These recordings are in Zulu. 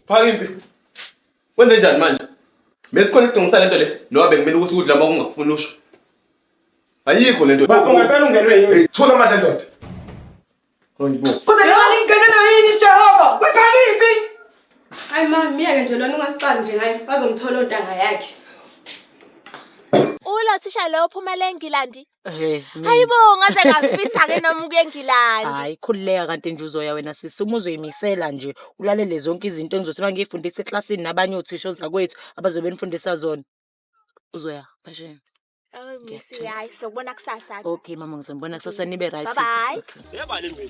Phaka impi. Wenze njani manje? Mesikhona isidingo sale nto le. Noba bekumele ukuthi ukudla uma kungakufuni usho. Ayikho le nto. Bafo ngempela ungenwe yini? Thula amandla ndoda. Hayibo. Kodwa imali ingenelwa yini Jehova? Wephaka impi. Hayi ma, miyeke nje lona ungasixali nje ngaye. Bazomthola ontanga yakhe. Ulo thisha lo uphumele eNgilandi Hey, mina- hayi bo ngaze ngafisa-ke noma ukuya engilandi hayi khululeka kanti nje uzoya wena sisi uma uzoyimisela nje ulalele zonke izinto engizothi uma ngiyifundisa eklasini nabanye othisha ozakwethu abazobe benifundisa zona uzoya phasheni Awu, Misi, hayi sokubona kusasa-ke okay mama ngizonibona kusasa nibe right Bye-bye. Okay.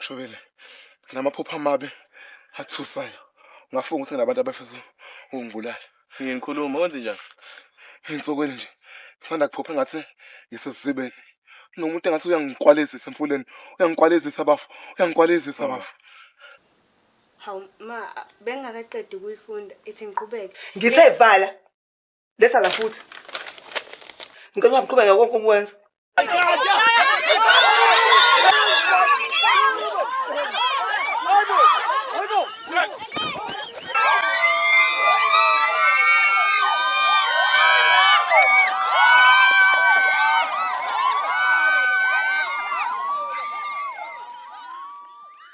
Shobile, nginamaphupho amabi athusayo. Ngafunga ukuthi nginabantu abafisa ukungibulala. Nginikhuluma wenze njani? Ensukwini nje ngisanda kuphupha engathi ngisesizibeni. Nomuntu engathi uyangikwalezisa emfuleni, uyangikwalezisa bafo, uyangikwalezisa oh. bafo. Hawu ma bengakaqedi ukuyifunda ithi ngiqhubeke. Ngithe vala. Letha la futhi. Ngicela uhamqhubeka konke ukwenza.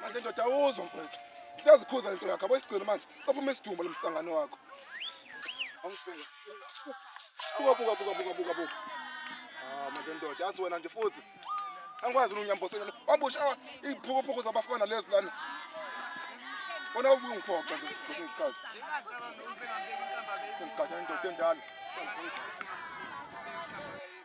Manje ndoda awuzwa mfethu. Siyazikhuza lento yakho. Abayisigcino manje. Baphuma isidumbu lomsangano wakho. Awungifela. Buka buka buka buka buka buka. Ah manje ndoda yazi wena nje futhi. Angikwazi unyambosela. Wabusha iphukuphuku zabafana lezi lana. Bona ukungiphoxa nje ngikuchaza. Ngigada indoda endala.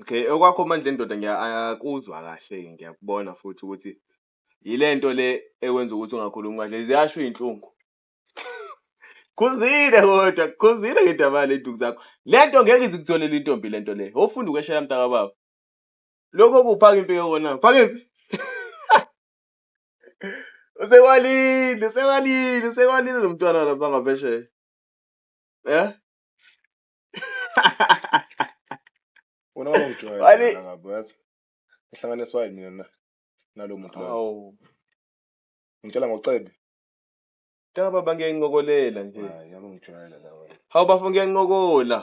Okay, okwakho manje ndoda ngiyakuzwa kahle ngiyakubona futhi ukuthi yile nto le ekwenza ukuthi ungakhulumi kahle ziyasho iy'nhlungu khuzile kodwa khuzile ngedaba ley'nduku zakho le nto ngeke izikutholele intombi le nto le ofunda ukweshela mntaka baba lokho kuphaka impi yokona phaka impi usekwalile usekwalile usekwalile lo mntwana lapha ngaphesheya ya Wena wawujwayela Wale- wena ngabo yazi. Ngihlanganiswa yini mina na? Nalo muntu loyo. Awu. Ngitshela ngocebe. Cha baba ngiyancokolela nje. Hayi, yabe ngijwayela la wena. Hawu bafo ngiyancokola.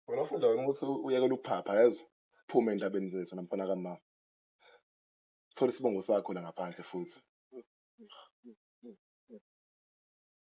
Wena ufunda wena ukuthi uyekela ukuphapha yazi. Phume endabeni zethu namfana kamama. Thola isibongo sakho la ngaphandle futhi.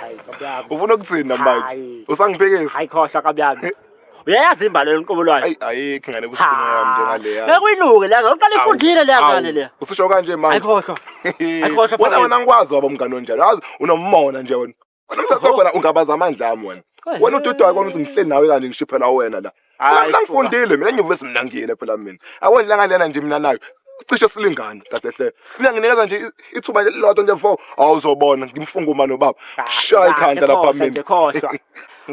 Hayi kabyami. ufuna ukuthina manje Hayi. usangiphekisa Hayi khohlwa kabyami. Uyayazi imbali lenkomo lwayo. ayi ayikho ngane kusimo yami njengaleya Bekuyilunge le ngane. Uqala ifundile le ngane le. usisho kanje Hayi manje khohlwa. Ayikhohlwa wena phakela. wena ngikwazi waba umngane onjalo yazi unomona nje wena Umthatha khona ungabaza amandla ami wena. Wena ududu wakho ukuthi ngihleli nawe kanje ngishiphela wena la. Hayi, Mina fuka. ngifundile mina nyuvesi mina ngiyile phela mina. Awona langa lena nje mina nayo. Cishe silingana kahle hle. Mina nginikeza nje i- ithuba nje lilodwa nje mfo. Awuzobona ngimfunga uma nobaba. Shaya ikhanda lapha Khohlwa mina. nje, khohlwa.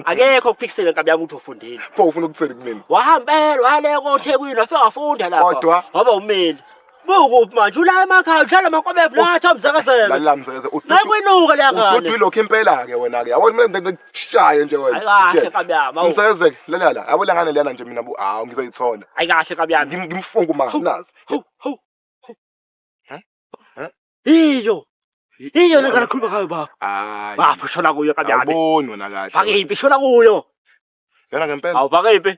akekho kuphikisele nkabi yami ukuthi ufundile Pho ufuna ukuthini kumina? wahambela wayaleka othekwini wafika wafunda lapha Kodwa? waba umeli Bukuphi manje ula emakhaya udlala amakwabevu la athi amzakazela. Lalela mzakazela. Nakwinuka leya ngane. Ududu lokho impela ke wena ke. Yabo mina ngikushaye nje wena. Hayi kahle kabi yami. Mzakazela lalela la. Yabo lengane lena nje mina bu hawu ngizoyithola. Hayi kahle kabi yami. Ngimfunga uma nazi. Hu hu. Hä? Hä? Iyo. Iyo lengane khuluma ngayo baba. Hayi. Baba shona kuyo kabi yami. Awuboni wena kahle. Bakiphi shona kuyo. Yena ngempela. Awubakephi.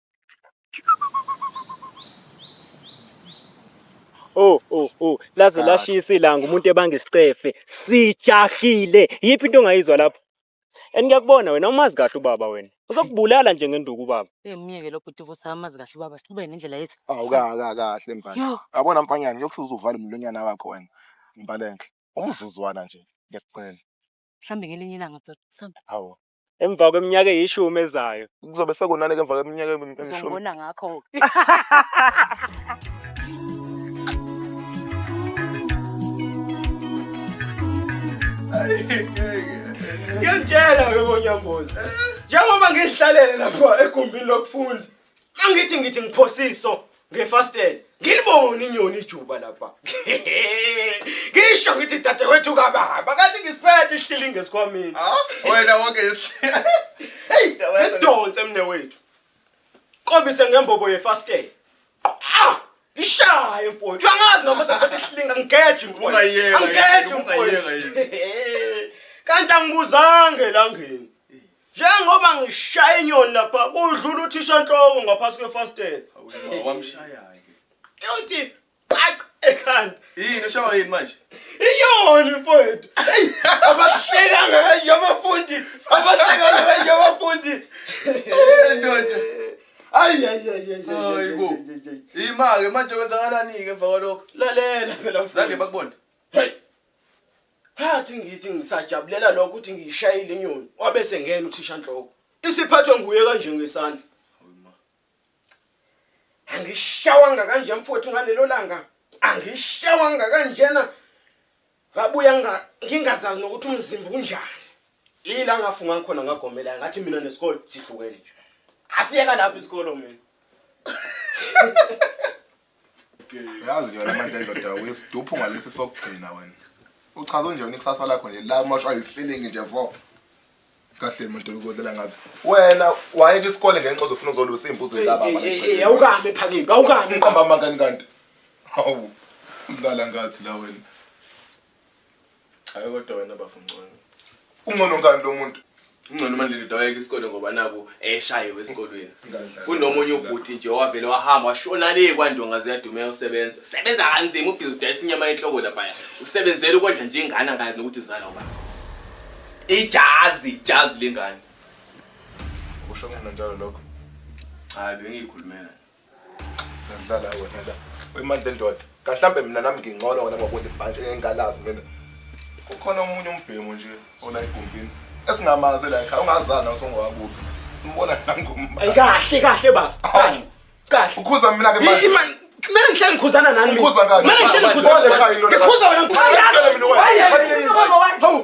Oh oh oh laze lashisa ilanga umuntu ebanga isicefe sijahile yiphi into ongayizwa lapho and ngiyakubona wena umazi kahle ubaba wena uzokubulala nje ngenduku ubaba Eh myeke lo bhuti vusa amazi kahle ubaba siqhubeke nendlela yethu. awukaka kahle mbali Yo, yabona mfanyana kuyokusuza uvale umlonyana wakho wena mbalenhle umzuzwana nje ngiyakucela mhlambe ngelinye ilanga bhuti. Samba. hawu emva kweminyaka eyishumi ezayo kuzobe sekonani ke emva kweminyaka emishumi Uzombona ngakho. ngiyakutshela webonyambuzi njengoba ngihlalele lapho egumbini lokufunda Angithi ngithi ngiphosiso ngefastele. Ngilibone inyoni ijuba lapha. Ngisho ngithi dadewethu kababa kanti ngisiphethe isihlili ngesikhwameni. Ah, wena wonke isihlili. Hey, isidonse mne wethu. Qobise ngembobo yefastele. Ah! Ishaye mfowethu. Uyangazi noma sengiphethe isilinga ngigeje mfowethu. Ungayeka yini? Angigeje Ungayeka mfowethu. Kanti angibuzange elangeni. Njengoba ngishaya inyoni lapha kudlula uthisha nhloko ngaphasi kwefastela. Wamshaya ke. Yothi qaq ekhanda. Yini ushawa yini manje? Iyoni mfowethu. Hey abahleka ngayo abafundi. Abahleka ngayo abafundi. Ndoda. Ayi ayi ayi ayi. Hayibo. Yima ke manje kwenzakalani ke emva kwalokho? Lalela phela mfowethu. Zange bakubone. Hey. Ngathi ngithi ngisajabulela lokho ukuthi ngiyishayile inyoni wabe sengena uthishanhloko. Isiphathwe nguye kanje ngesandla. Angishawanga kanje mfowethu ngalelo langa. Angishawanga kanjena. Ngabuya ngingazazi nokuthi umzimba unjani. Ila ngafunga khona ngagomela ngathi mina nesikole sihlukene nje. Asiyeka lapha isikole mina. yazi yona manje ndoda uyisiduphu ngalesi sokugcina wena uchaza unjani ikusasa lakho nje la mashwa yisihlelingi nje vo kahle muntu ukodlela ngathi wena wayeka isikole ngenxa uzofuna uzolusa imbuzo laba awukami phakimi awukami iqamba amangani kanti hawu udlala ngathi la wena Hayi kodwa wena bafo ngcono. Ungcono ngani lo muntu? Ungcono manje ndoda wayeke isikole ngoba naku eshayiwe esikolweni. Ngadlala. Kunomunye ubhuti nje owavele wahamba washona le kwandonga ziyaduma eyosebenza. Sebenza kanzima ubhizi udayisa inyama yenhloko laphaya. Usebenzela ukondla nje ingane angazi nokuthi izala ubani. Ijazi, ijazi lengane. Kusho mina njalo lokho. Hayi bengiyikhulumela. Ngadlala wena la. Uyimandla endoda. Kahlambe mina nami ngingcono wena ngokuthi ibhantshi engingalazi mina. Kukhona omunye umbhemu nje ona egumbini. Esingamazi la ekhaya ungazana usongowakuphi. Simbona nangomba. Ayikahle kahle baba. Kahle. Kahle. Ukhuza mina ke manje. Kumele ngihlale ngikhuzana nani mina. Ukhuza ngani? Kumele ngihlale ngikhuzana. Ngikhuza wena ngikhuza. Hayi. Hayi.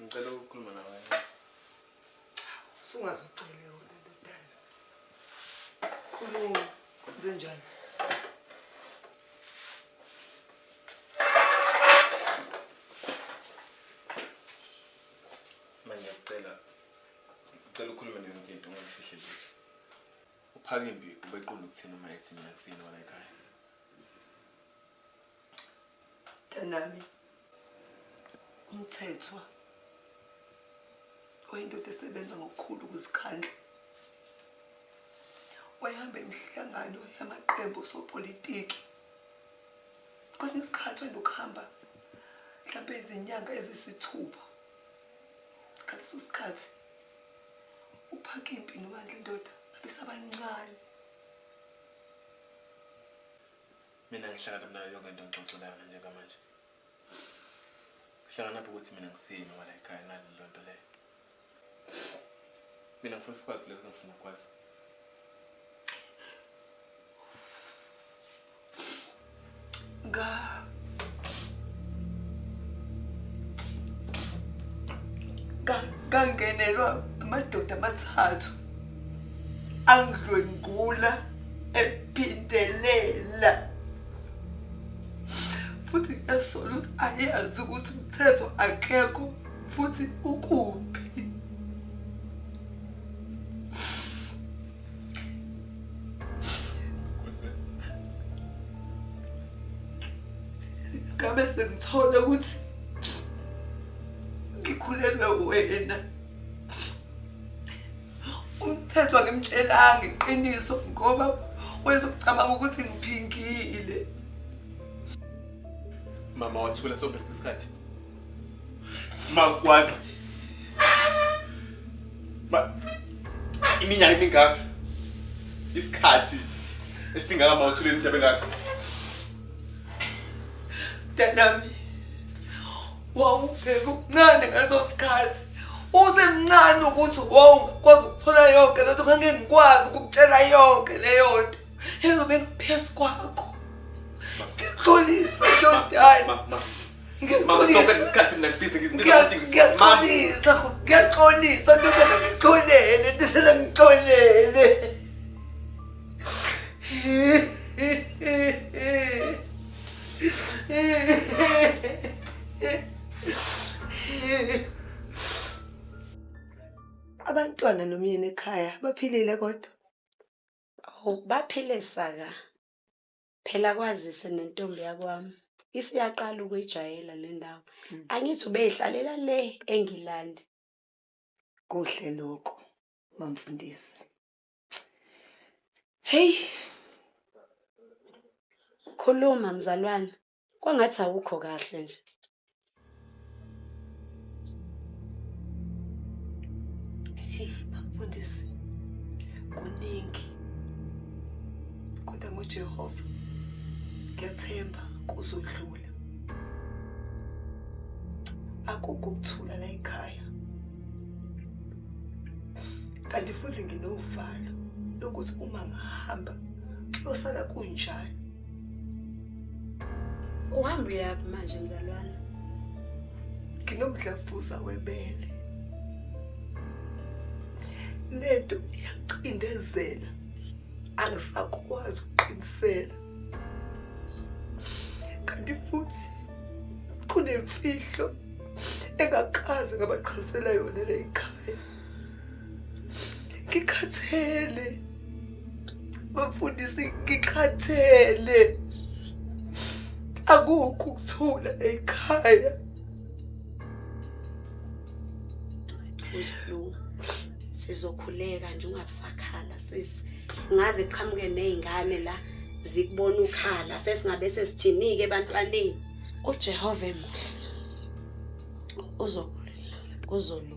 Ngicela ukukhuluma nawe. Sungaze ucele wena ndodana. Khuluma, kwenze njani? Manje ngicela ngicela ukhulume nayo yonke into ungafihle lutho. Uphakimbi ubeqonda ukuthini uma ethi mina kusini wona ekhaya? Mntanami, umthethwa oyindoda esebenza ngokukhulu ukuzikhandla wayehamba imihlangano yamaqembu osopolitiki kwesinye isikhathi wayenokuhamba mhlawumbe izinyanga ezisithupha ngaleso sikhathi uphaka impi nobandla indoda abesabancane Mina ngihlangana nayo yonke into ngixoxe nayo nje ngamanje. Ngihlangana lapho ukuthi mina ngisini ngoba la ekhaya ngani leyo nto leyo. Mina ngifuna ukwazi lokho ngifuna ukwazi. Ga. Ga ngangenelwa amadoda amathathu. angidlwengula ephindelela futhi ngiyasola ukuthi ayazi ukuthi umthetho akekho futhi ukuphi ngabe sengithole ukuthi ngikhulelwe wena umthetho akemtshelanga iqiniso ngoba wayezocabanga ukuthi ngiphingile mama wathula sonke lesi sikhathi makwazi ma iminyaka emingaka isikhathi esingaka mawuthule into ebengaka mntanami wawubheka ubuncane ngeso sikhathi usemncane ukuthi wawungakwazi ukuthola yonke lento ngeke ngikwazi ukukutshela yonke leyo nto ezobe ngiphezu kwakho ngixolise ntodayi ngiyaxolisa ngiyaxolisa ntokana ngixolele tisela ngixolele Abantwana nomyeni ekhaya baphilile kodwa? Awu baphile saka. Phela kwazise nentombi yakwami isiyaqala ukuyijayela le ndawo. Mm. Angithi ubeyihlalela le eNgilandi. Kuhle lokho, mamfundisi. Heyi, khuluma mzalwane, kwangathi awukho kahle nje. Heyi, bafundisi, kuningi. Kodwa ngoJehova, ngiyathemba kuzodlula. Akukho ukuthula la ekhaya. kanti futhi nginovalo lokuthi uma ngihamba kuyosala kunjani uhamba uyaphi manje mzalwana nginomdlavuza webele lento iyacindezela angisakwazi ukuqinisela kanti futhi kunemfihlo engakaze ngabaqhazela yona le yikhaya ngikhathele bafundisi ngikhathele akukho ukuthula ekhaya uzolunga sizokhuleka nje ungabusakhala sisi ngaze qhamuke nezingane la zikubona ukhala sesingabe sesithinike ebantwaneni uJehova emuhle uzokuzolunga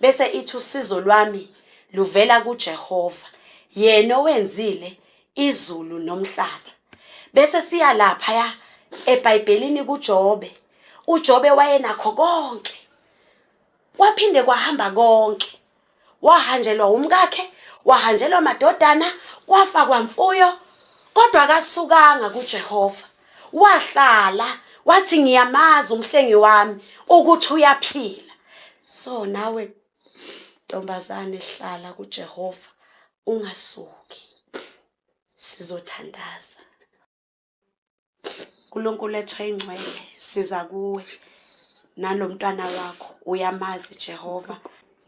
bese ithi usizo lwami luvela kuJehova yena owenzile izulu nomhlaba bese siya lapha ya eBhayibhelini kuJobe uJobe wayenakho konke kwaphinde kwahamba konke wahanjelwa umkakhe wahanjelwa amadodana kwafa kwamfuyo kodwa akasukanga kuJehova wahlala wathi ngiyamazi umhlengi wami ukuthi uyaphila so nawe ntombazane hlala kujehova ungasuki sizothandaza unkulunkulu ethwa ingcwele siza kuwe nalo mntwana wakho uyamazi jehova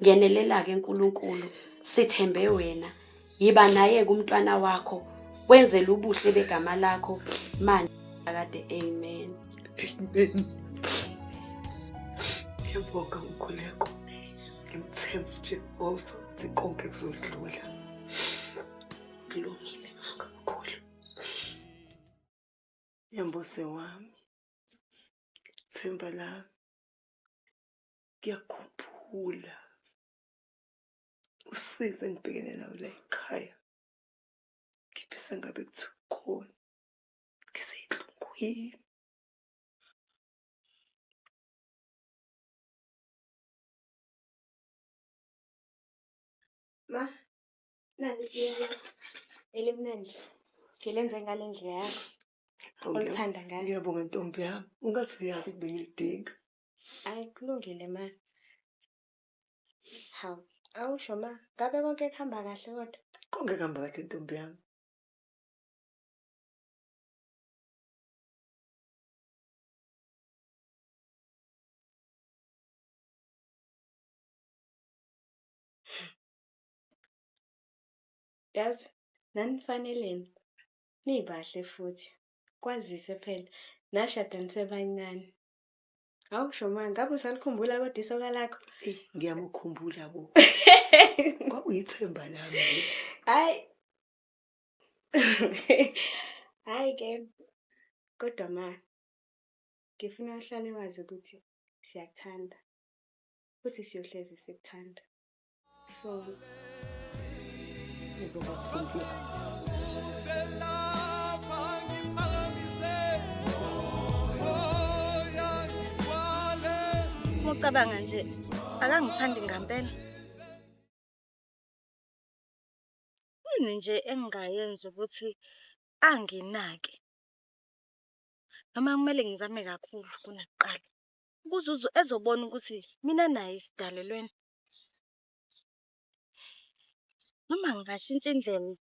ngenelela-ke nkulunkulu sithembe wena yiba naye kumntwana wakho wenzele ubuhle begama lakho manje akade amen amen ngiyabonga umkhuleko ngimthemba ujehova ukuthi konke kuzodlula kulungile kakhulu yambose wami themba lami ngiyakhumbula usize engibhekene nawo la ekhaya ngifisa ngabe kuthi ukhona ngiseynhlungwini ma nani elimnandi ngilenze ngale ndlela yakho olithanda ngayo ngiyabonga ntombi yami ungaze uyazi ukuthi bengilidinga hayi kulungile ma Hawu, awusho ma, ngabe konke kuhamba kahle kodwa? Konke kuhamba kahle ntombi yami. Yazi nanifaneleni nibahle futhi kwazise phela nashada nisebancane. Hawu Shomani, ngabe usalikhumbula kodwa isoka lakho? Eyi, ngiyamukhumbula bo. Kwakuyithemba lami. Hayi. Hayi ke. Kodwa ma ngifuna uhlale wazi ukuthi siyakuthanda. Futhi siyohlezi sikuthanda. Mucabanga nje akangithandi ngampela yini nje engingayenza ukuthi anginake noma kumele ngizame kakhulu kunakuqala ukuze ezobona ukuthi mina naye sidalelweni Noma ngingashintsha indlela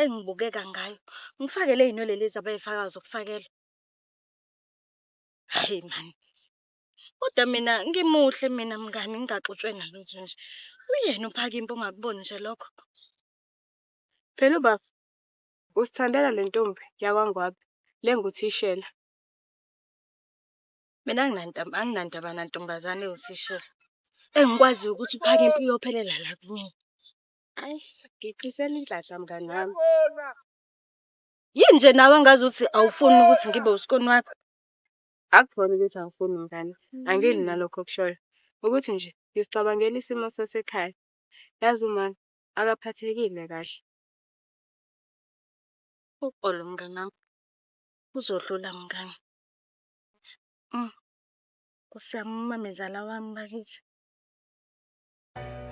engibukeka ngayo, ngifake lezinwele lezi abayifakayo zokufakelwa. Hhayi maan, kodwa mina ngimuhle mina mngani ngingaxutshwe nalutho nje. Uyena uPhakimpa ongakuboni nje lokho? Phela ubaba uzithandela lentombi yakwaNgwabe le enguthishela. Mina anginandaba anginandaba nantombazane ewuthishela. Engikwaziyo ukuthi uphaka impi uyophelela la kumina. Ayi, ngichisela inhlanhla mngani wami. Yini nje nawe ngazi ukuthi awufuni ukuthi ngibe usikoni wakho? Akubona ukuthi angifuni mngani. Angili nalokho okushoyo. Ukuthi nje ngisicabangela isimo sasekhaya. Yazi uma akaphathekile kahle. Uxolo mngani wami. Kuzodlula mngani. Nkosi yami umamezala wami bakithi.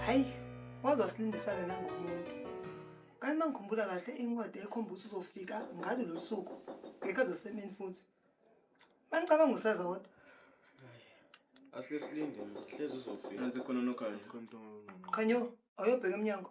Hayi, waze wasilindisa-ke nangomuntu. Kanti uma ngikhumbula kahle incwadi ekhomba ukuthi uzofika ngalo lolu suku ngekazi asemini futhi. Manicabanga useza kodwa. Asike silinde, hlezi uzofika. Nansi khona nokhanya. Khanyo, awuyobheka emnyango.